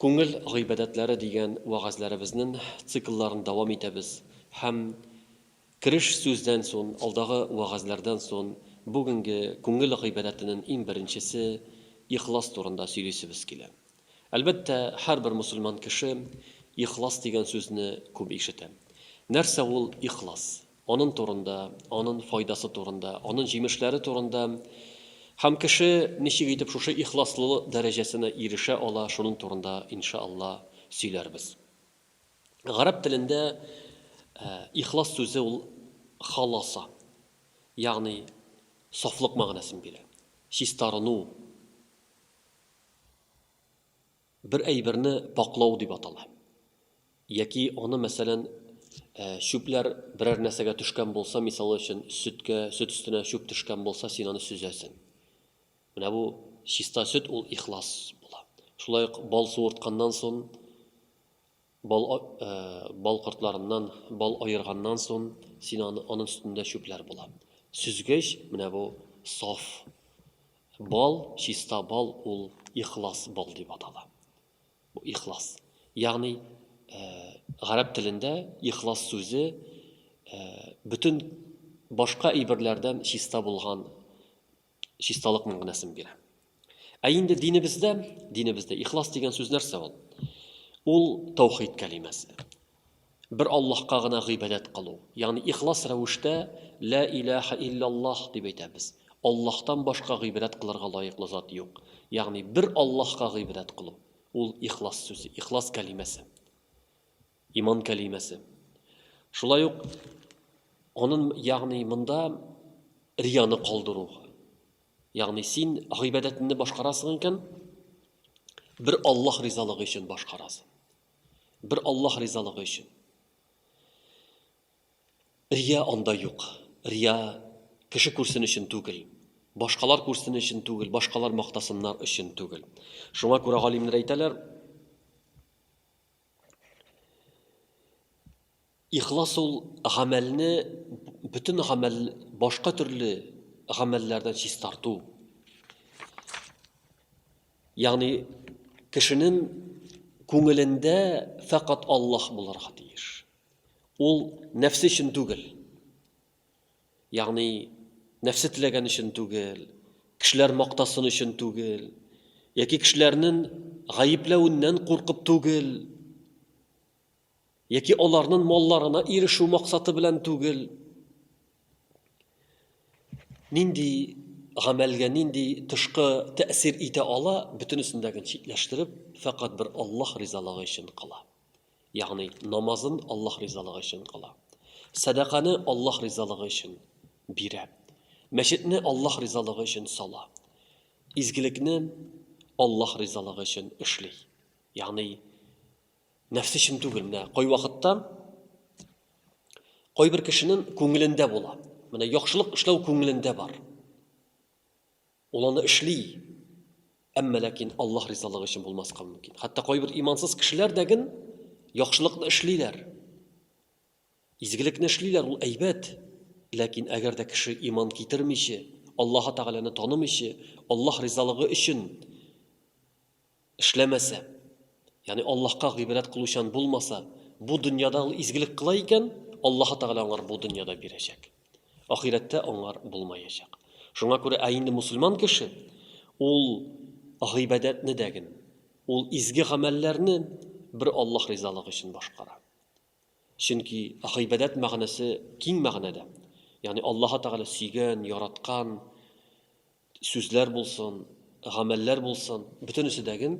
Күңел гыйбадәтләре дигән вәгазьләребезнен циклларын дәвам итәбез һәм кереш сүздән сон, алдагы вәгазьләрдән сон бүгенге күңел гыйбадәтенен иң беренчесе ихлас турында сөйлисебез килә. Әлбәттә, һәрбер мөселман кеше ихлас дигән сүзне күп ишетә. Нәрсә ул ихлас? анын турында, анын файдасы турында, анын җимешләре турында һәм кеше ничек итеп шушы ихласлылык дәрәҗәсенә ирешә ала, шунын турында, инша Алла, сөйләрбез. Гарәп телендә ихлас сүзе ул халаса, ягъни сафлык мәгънәсен бирә, чистарыну. Бер әйберне пакьлау дип атала. Яки аны, мәсәлән, чүпләр берәр нәрсәгә төшкән булса, мисалы өчен, сөткә, сөт өстенә чүп төшкән булса, син аны сөзәсең. Менә бу чиста сөт ул ихлас була. Шулай ук бал суыртканнан соң Бал бал кортларыннан бал аерганнан сон, син аны анын өстендә чүпләр була. Сөзгеч, менә бу саф бал, чиста бал, ул ихлас бал дип атала. Бу ихлас. Ягъни гарәп телендә ихлас сүзе бөтен башка әйберләрдән чиста булган чисталык мәгънәсен бирә. Ә инде динебездә, динебездә ихлас дигән сүз нәрсә ул? Ул таухид кәлимәсе. Бер Аллаһка гына гыйбадәт кылу. Ягъни ихлас рәвештә ла илаха иллаллаһ дип әйтәбез. Аллаһтан башка гыйбадәт кылырга лаеклы зат юк. Ягъни бер Аллаһка гыйбадәт кылу. Ул ихлас сүзе, ихлас кәлимәсе. Иман кәлимәсе. Шулай ук анын, ягъни монда рияны калдыру. Ягъни син гыйбадәтне башкарасың икән, бер Аллаһ ризалыгы өчен башкарасың. Бер Аллаһ ризалыгы өчен. Рия анда юк. Рия кеше күрсен өчен түгел. Башкалар күрсен өчен түгел, башкалар мактасыннар өчен түгел. Шуңа күрә галимнәр әйтәләр, Ихлас ул гамәлне бөтен гамәл башка төрле гамәлләрдән чистарту. Ягъни кешенең күңелендә фәкать Аллаһ булырга тиеш. Ул нәфсе өчен түгел. Ягъни, нәфсе теләгән өчен түгел, кешеләр мактасын өчен түгел, яки кешеләрнен гаепләвеннән куркып түгел, яки аларнын малларына ирешү максаты белән түгел. Нинди гамәлгә нинди тышкы тәэсир итә ала, бөтенесен дә читләштереп, фәкать бер Аллаһ ризалыгы өчен кыла. Ягъни, намазын Аллаһ ризалыгы өчен кыла. Сәдаканы Аллаһ ризалыгы өчен бирә. Мәчетне Аллаһ ризалыгы өчен сала. Изгелекне Аллаһ ризалыгы өчен эшли. Ягъни, нәфсе өчен түгел. Менә кайвакытта кайбер кешенең күңелендә була. Менә яхшылык эшләү күңелендә бар. Ул аны эшли, әмма ләкин Аллаһ ризалыгы өчен булмаска мөмкин. Хәтта кайбер имансыз кешеләр дә гел яхшылыкны эшлиләр. Изгелекне эшлиләр, ул әйбәт. Ләкин әгәр дә кеше иман китермичә, Аллаһ Тәгаләне танымыйча, Аллаһ ризалыгы өчен Эшләмәсә, ягъни Аллаһка гыйбадәт кылучан булмаса, бу дөньяда ул изгелек кыла икән, Аллаһы Тәгалә аңар бу дөньяда бирәчәк. Ахирәттә аңар булмаячак. Шуңа күрә ә инде мусульман кеше ул гыйбадәтне дә гел, ул изге гамәлләрне бер Аллаһ ризалыгы өчен башкара. Чөнки гыйбадәт мәгънәсе киң мәгънәдә. Ягъни Аллаһы Тәгалә сөйгән, яраткан сүзләр булсын, гамәлләр булсын, бөтенесе дәген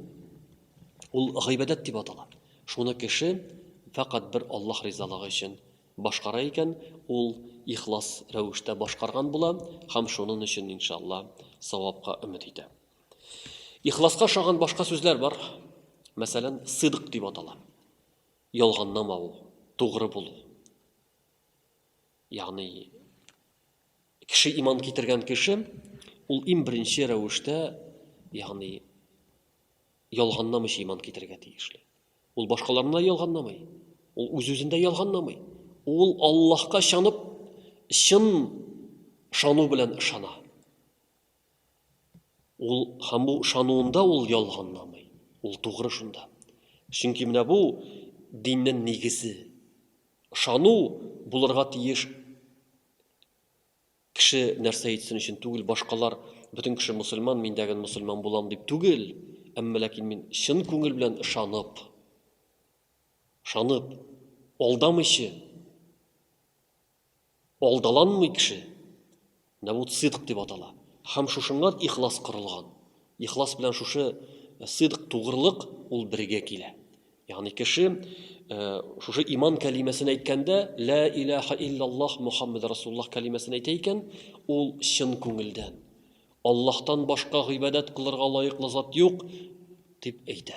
ул гыйбадәт дип атала. Шуны кеше фәкать бер Аллаһ ризалыгы өчен башкара икән, ул ихлас рәвештә башкарган була һәм шунын өчен иншалла савапка өмет итә. Ихласка ошаган башка сүзләр бар. Мәсәлән, сыдык дип атала. Ялганлама ул, тугры булу. Ягъни кеше иман китергән кеше ул иң беренче рәвештә, ягъни ялганламыйча иман китергә тиешле. Ул башкаларны ялганламый. Ул үз-үзендә ялганламый. Ул Аллаһка шанып, чын шану белән ышана. Ул һәм бу ышануында ул ялганламый. Ул тугры шунда. Чөнки менә бу диннен нигезе. Ышану булырга тиеш кеше нәрсә әйтсен өчен түгел, башкалар бөтен кеше мусульман, мин дә гел мусульман булам дип түгел, әмма ләкин мин чын күңел белән ышанып, ышанып, алдамыйчы, Алдаланмый кеше. Менә бу сыдык дип атала. Һәм шушыннан ихлас корылган. Ихлас белән шушы сыдык тугрылык ул бергә килә. Ягъни кеше шушы иман кәлимәсен әйткәндә, лә илаһа иллаллаһ Мухаммад Расуллаһ кәлимәсен әйтә икән, ул чын күңелдән. Аллаһтан башка гыйбадәт кылырга лаеклы зат юк, дип әйтә.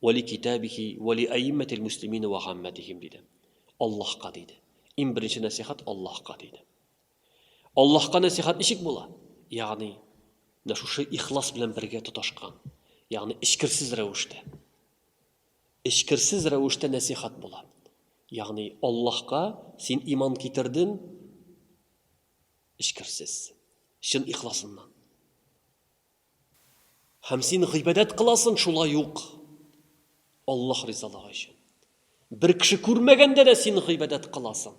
Вә ли китабихи вә ли әиммәтил мөслимина вә гаммәтихим, диде. Аллаһка, диде. Иң беренче нәсыйхәт Аллаһка, диде. Аллаһка нәсыйхәт ничек була? Ягъни, менә шушы ихлас белән бергә тоташкан, ягъни эчкерсез рәвештә. Эчкерсез рәвештә нәсыйхәт була. Ягъни, Аллаһка син иман китердең эчкерсез, чын ихласыннан. Һәм син гыйбадәт кыласың шулай ук Аллаһ ризалыгы өчен. Бер кеше күрмәгәндә дә син гыйбадәт кыласың.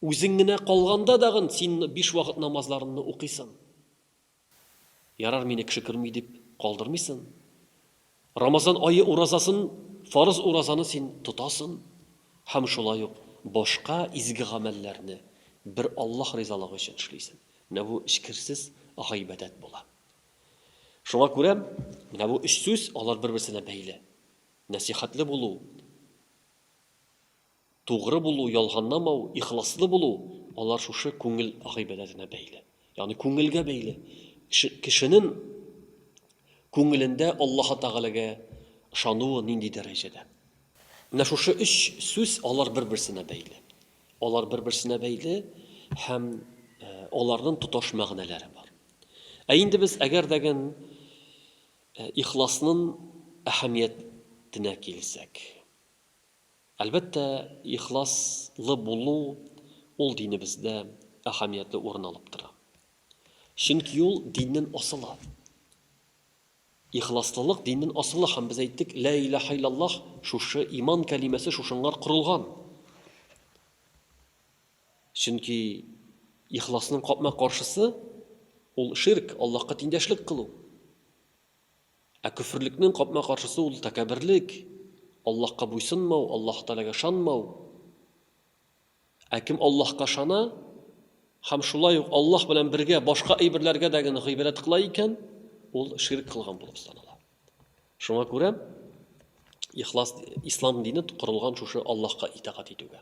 Үзең генә калганда дагын син биш вакыт намазларыңны укыйсың. Ярар, мине кеше күрми дип калдырмыйсың. Рамазан ае уразасын, фарыз уразаны син тотасын һәм шулай ук башка изге гамәлләрне бер Аллаһ ризалыгы өчен эшлисең. Менә бу эчкерсез гыйбадәт була. Шуңа күрә менә бу өч сүз, алар бер-берсенә бәйле. Нәсыйхәтле булу. Тугры булу, ялганламау, ихласлы булу, алар шушы күңел гыйбадәтенә бәйле. Ягъни күңелгә бәйле. Кешенең күңелендә Аллаһы Тәгаләгә ышануы нинди дәрәҗәдә? Менә шушы өч сүз алар бер-берсенә бәйле. Алар бер-берсенә бәйле һәм аларның тоташ мәгънәләре бар. Ә инде без әгәр дәген ихласның әһәмиятенә килсәк, Әлбәттә, ихлас лы булу ул динебездә әһәмиятле урын алып тора. Чөнки ул диннен асылы. Ихласлылык диннен асылы һәм без әйттек, Лә иләһә илләллаһ, шушы иман кәлимәсе шушыңар корылган. Чөнки ихласның капма-каршысы ул ширк, Аллаһка тиңдәшлек кылу. Ә көферлекнең капма-каршысы ул тәкәбберлек, Аллаһка буйсынмау, Аллаһ Тәгаләгә ышанмау. Ә кем Аллаһка ышана һәм шулай ук Аллаһ белән бергә башка әйберләргә дә генә гыйбадәт кыла икән, ул ширк кылган булып санала. Шуңа күрә ихлас ислам дине корылган шушы Аллаһка итагать итүгә.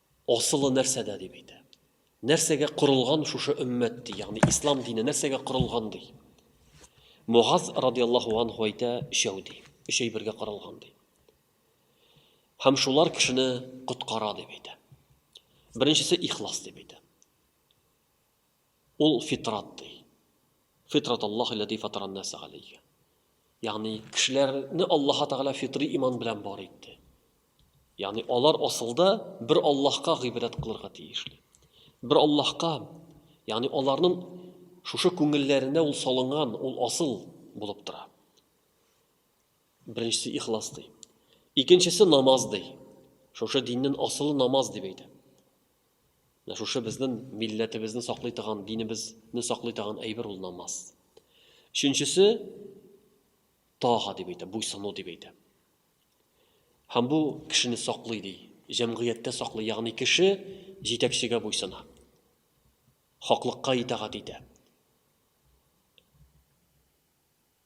Асылы нәрсәдә дип әйтә. Нәрсәгә корылган шушы өммәт ди, ягъни ислам дине нәрсәгә корылган ди. Мугаз радиаллаһу анху әйтә, өчәү ди, өч әйбергә корылган ди. Һәм шулар кешене коткара дип әйтә. Беренчесе ихлас дип әйтә. Ул фитрат, ди. Фитрат Аллаһи ләти фатара ан-наса галәйһи. Ягъни, кешеләрне Аллаһы Тәгалә фитри иман белән бар итте. Ягъни, алар асылда бер Аллаһка гыйбадәт кылырга тиешле. Бер Аллаһка, ягъни аларның шушы күңелләренә ул салынган, ул асыл булып тора. Беренчесе ихлас ди. Икенчесе намаз ди. Шушы диннең асылы намаз дип әйтә. Менә шушы безнең милләтебезне саклый торган, динебезне саклый торган әйбер ул намаз. Өченчесе тага дип әйтә, буйсыну дип әйтә. Һәм бу кешене саклый ди, җәмгыятьтә саклый, ягъни кеше җитәкчегә буйсына. Хаклыкка итагать итә.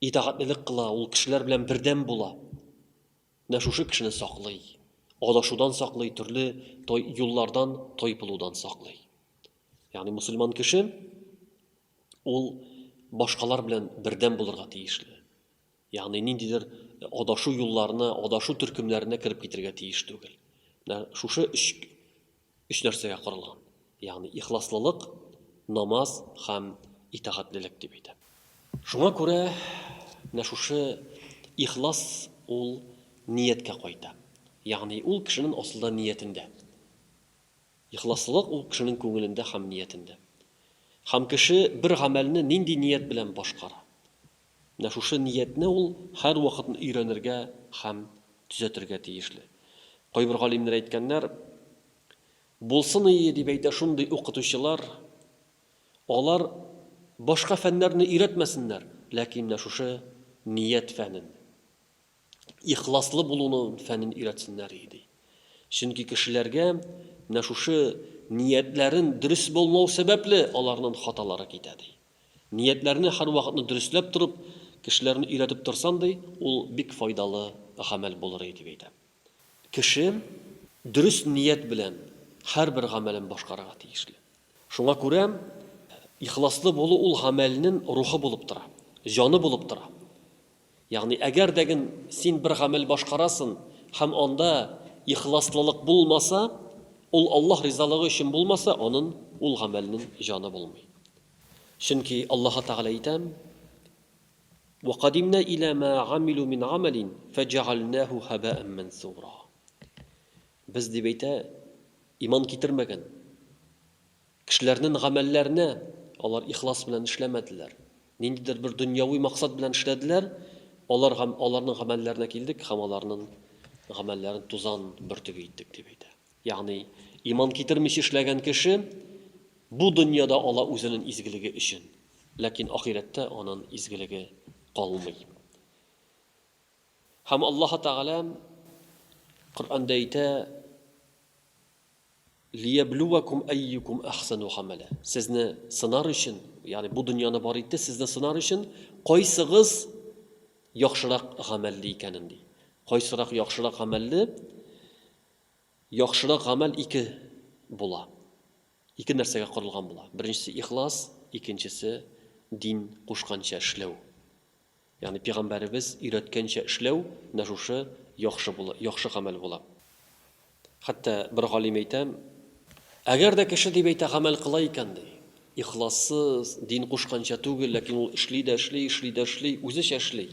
Итагатьлелек кыла, ул кешеләр белән бердәм була. Менә шушы кешене саклый. Адашудан саклый, төрле той, юллардан тайпылудан саклый. Ягъни мусульман кеше ул башкалар белән бердәм булырга тиешле. Ягъни ниндидер адашу юлларына, адашу төркемнәренә кереп китергә тиеш түгел. Менә шушы өч Өч нәрсәгә корылган, ягъни ихласлылык, намаз һәм итагатьлелек, дип әйтә. Шуңа күрә менә шушы ихлас ул нияткә кайта. Ягъни ул кешенең асылда ниятендә. Ихласлылык ул кешенең күңелендә һәм ниятендә. Һәм кеше бер гамәлне нинди ният белән башкара, Менә шушы ниятне ул һәрвакыт өйрәнергә һәм төзәтергә тиешле. Кайбер галимнәр әйткәннәр, Булсын ие, дип әйтә шундый укытучылар, алар башка фәннәрне өйрәтмәсеннәр, ләкин менә шушы ният фәнен. ихласлы булуны фәнен өйрәтсеннәр и ди. Чөнки кешеләргә менә шушы ниятләрен дөрес булмау сәбәпле аларнын хаталары китә ди. Ниятләрне һәрвакытны дөресләп торып, кешеләрне өйрәтеп торсан ди, ул бик файдалы гамәл булыр и дип әйтә. Кеше дөрес ният белән һәрбер гамәлен башкарырга тиешле. Шуңа күрә ихласлы булу ул гамәлнен рухы булып тора, җаны булып тора. Ягъни, әгәр дә ген син бер гамәл башкарасын һәм анда ихласлылык булмаса, ул Аллаһ ризалыгы өчен булмаса, анын, ул гамәлнен җаны булмый. Чөнки Аллаһы Тәгалә әйтә, Вәкадимнә илә мә гамилу мин гамәлин фәҗәгәлнәһү һәбәән мәнсура. Без, дип әйтә, иман китермәгән, Кешеләрнен гамәлләрне алар ихлас белән эшләмәделәр. Ниндидер бер дөньяви максат белән эшләделәр, алар гам аларнын гамәлләренә килдек һәм аларнын гамәлләрен тузан бөртеге иттек, дип әйтә. Ягъни, иман китермичә эшләгән кеше бу дөньяда ала үзенен изгелеге өчен, ләкин ахирәттә анын изгелеге калмый. Һәм Аллаһы Тәгалә Коръәндә әйтә. Лияблюәкум әйюкум әхсәну гамәлә. Сезне сынар өчен, ягъни бу дөньяны бар итте, сезне сынар өчен, кайсыгыз яхшырак гамәлле икәнен, ди. Кайсырак яхшырак гамәлле? Яхшырак гамәл ике була. Ике нәрсәгә корылган була. Беренчесе ихлас, икенчесе дин кушканча эшләү. Ягъни пигамбәребез өйрәткәнчә эшләү менә шушы яхшы була, яхшы гамәл була. Хәтта бер галим әйтә, Әгәр дә кеше дип әйтә гамәл кыла икән, ди, ихлассыз, дин кушканча түгел, ләкин ул эшли дә эшли, эшли дә эшли, үзечә эшли.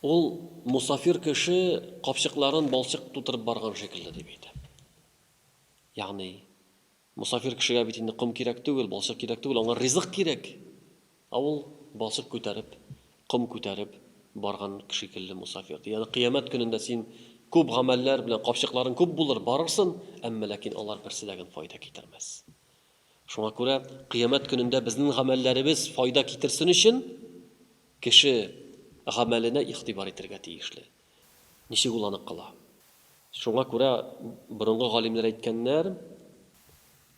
Ул мусафир кеше капчыкларын балчык тутырып барган шикелле, дип әйтә. Ягъни Мосафир кешегә бит инде ком кирәк түгел, балчык кирәк түгел, аңа ризык кирәк! Ә ул, балчык күтәреп, ком күтәреп барган шикелле мосафир, ди. Ягъни Кыямәт көнендә син күп гамәлләр белән капчыкларың күп булыр, барырсын, әмма ләкин алар берсе дә генә файда китермәс. Шуңа күрә Кыямәт көнендә безнең гамәлләребез файда китерсен өчен, кеше гамәленә игътибар итергә тиешле. Ничек ул анык кала? Шуңа күрә борынгы галимнәр әйткәннәр,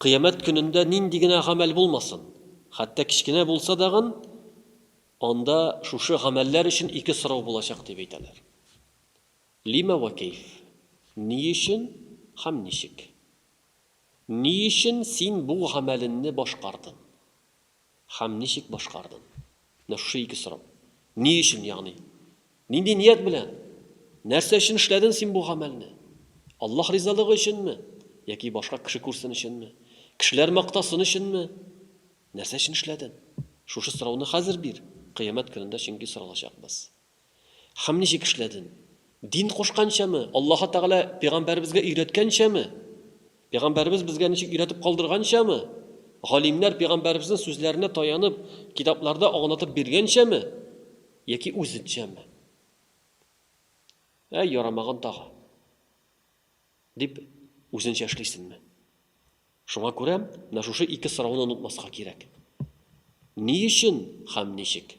Кыямәт көнендә нинди генә гамәл булмасын, хәтта кечкенә булса дагын, анда шушы гамәлләр өчен ике сорау булачак, дип әйтәләр. Лима вә кәйф? Ни өчен һәм ничек? Ни өчен син бу гамәленне башкардың? Һәм ничек башкардың? Менә шушы ике сорау. Ни өчен, ягъни, нинди ният белән, нәрсә өчен эшләдең син бу гамәлне? Аллаһ ризалыгы өченме? Яки башка кеше күрсен өченме? Кешеләр мактасын өченме? Нәрсә өчен эшләдең? Шушы сорауны хәзер бир, Кыямәт көнендә чөнки соралачакбыз. Һәм ничек эшләдең? Дин кушканчамы? Аллаһы Тәгалә пәйгамбәребезгә өйрәткәнчәме? Пәйгамбәребез безгә ничек өйрәтеп калдырганчамы? Галимнәр пәйгамбәребезнең сүзләренә таянып, китапларда аңлатып биргәнчәме? Яки үзенчәме? Әй, ярамаган тагы! дип, үзенчә эшлисеңме? Шуңа күрә менә шушы ике сорауны онытмаска кирәк. Ни өчен һәм ничек?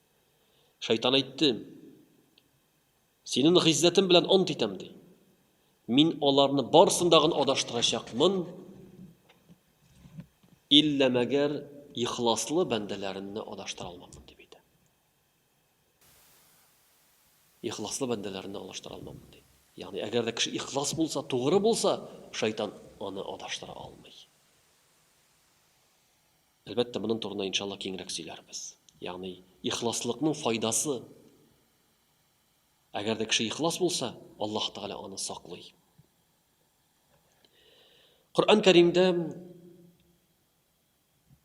Шайтан әйтте, Синен гыйззәтем белән ант итәм, ди. Мин аларны барсындагын адаштырачакмын, иллә мәгәр ихласлы бәндәләренне адаштыра алмамын, дип әйтә. Ихласлы бәндәләренне адаштыра алмамын, ди. Ягъни, әгәр дә кеше ихлас булса, тугры булса, шайтан аны адаштыра алмый. Әлбәттә, моның турында иншалла киңрәк сөйләрбез. Ягъни, ихласлыкның файдасы. Әгәр дә кеше ихлас булса, Аллаһ Тәгалә аны саклый. Коръән Кәримдә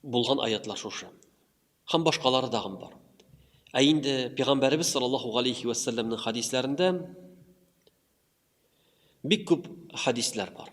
булган аятлар шушы. Һәм башкалары дагын бар. Ә инде пәйгамбәребез саллаллаһу алейхи ва саллямның хадисләрендә бик күп хадислар бар.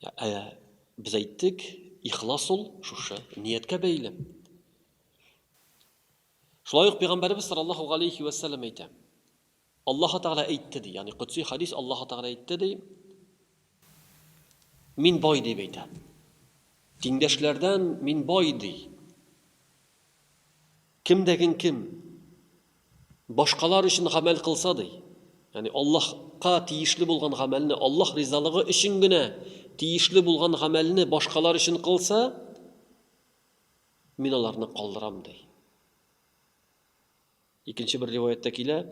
Ә без әйттек, ихлас ул шушы нияткә бәйле. Шулай ук пәйгамбәребез саллаллаһу галәйһи ва саллям әйтә. Аллаһ Тәгалә әйтте ди, ягъни кутси хадис Аллаһ Тәгалә әйтте ди. Мин бай дип әйтә. Тиңдәшләрдән мин бай ди. Кемдәген кем башкалар өчен гамәл кылса, ди, ягъни Аллаһка тиешле булган гамәлне, Аллаһ ризалыгы өчен генә тиешле булган гамәлне башкалар өчен кылса, мин аларны калдырам, ди. Икенче бер риваятта килә,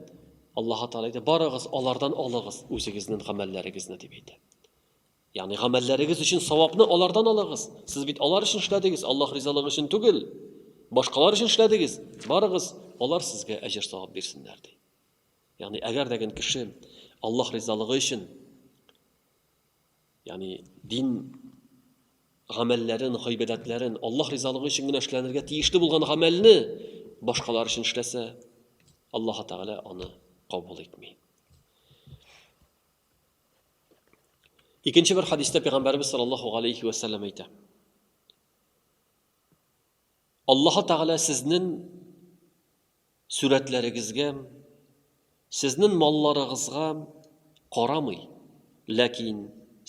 Аллаһ Тәгалә әйтә, барыгыз, алардан алыгыз үзегезнең гамәлләрегезне дип әйтә. Ягъни гамәлләрегез өчен савапны алардан алыгыз. Сез бит алар өчен эшләдегез, Аллаһ ризалыгы өчен түгел. Башкалар өчен эшләдегез. Барыгыз, алар сезгә әҗер савап бирсеннәр ди. Ягъни әгәр дә кеше Аллаһ ризалыгы өчен ягъни дин гамәлләрен, гыйбадәтләрен Аллаһ ризалыгы өчен генә эшләнергә тиешле булган гамәлне башкалар өчен эшләсә, Аллаһ Тәгалә аны кабул итми. Икенче бер хадистә пәйгамбәрбез саллаллаһу галәйһи ва саллям әйтә. Аллаһ Тәгалә сезнең сүрәтләрегезгә, сезнең малларыгызга карамый, ләкин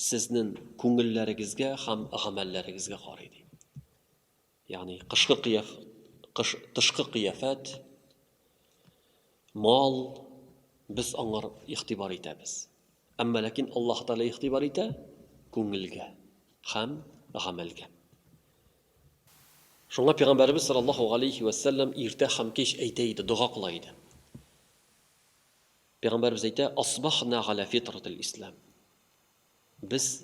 сезнең күңелләрегезгә һәм гамәлләрегезгә карый ди. Ягъни кышкы кыяф, кыш, тышкы кыяфәт, мал, без аңар игътибар итәбез. Әмма ләкин Аллаһ Тәгалә игътибар итә күңелгә һәм гамәлгә. Шуңа пәйгамбәребез саллаллаһу галәйһи ва сәлләм иртә һәм кич әйтә иде, дога кыла иде. Пәйгамбәребез әйтә, "Асбахна галя фитратил ислам". Без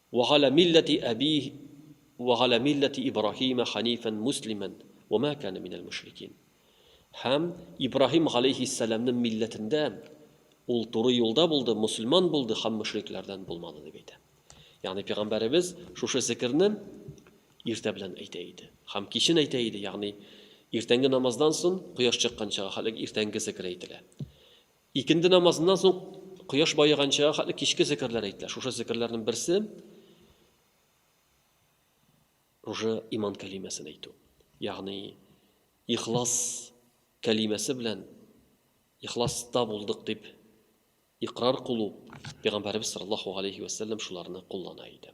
Ва галә милләти әбиһ ва галә милләти Ибраһима ханифән муслимән ва мә кәнә минәл мөшрикин. Һәм Ибраһим галәйһиссәламнең милләтендә, ул туры юлда булды, мөселман булды һәм мөшрикләрдән булмады, дип әйтә. Ягъни пәйгамбәребез шушы зекерне иртә белән әйтә иде һәм кичен әйтә иде, ягъни иртәнге намаздан соң кояш чыкканчага хәтле иртәнге зекер әйтелә. Икенде намазыннан соң кояш баеганчага хәтле кичке зикерләр әйтелә. Шушы зикерләрнең берсе уже иман кәлимәсен әйтү. Ягъни ихлас кәлимәсе белән ихласта булдык дип икърар кылу. Пәйгамбәребез саллаллаһу алейһи ва саллям шуларны куллана иде.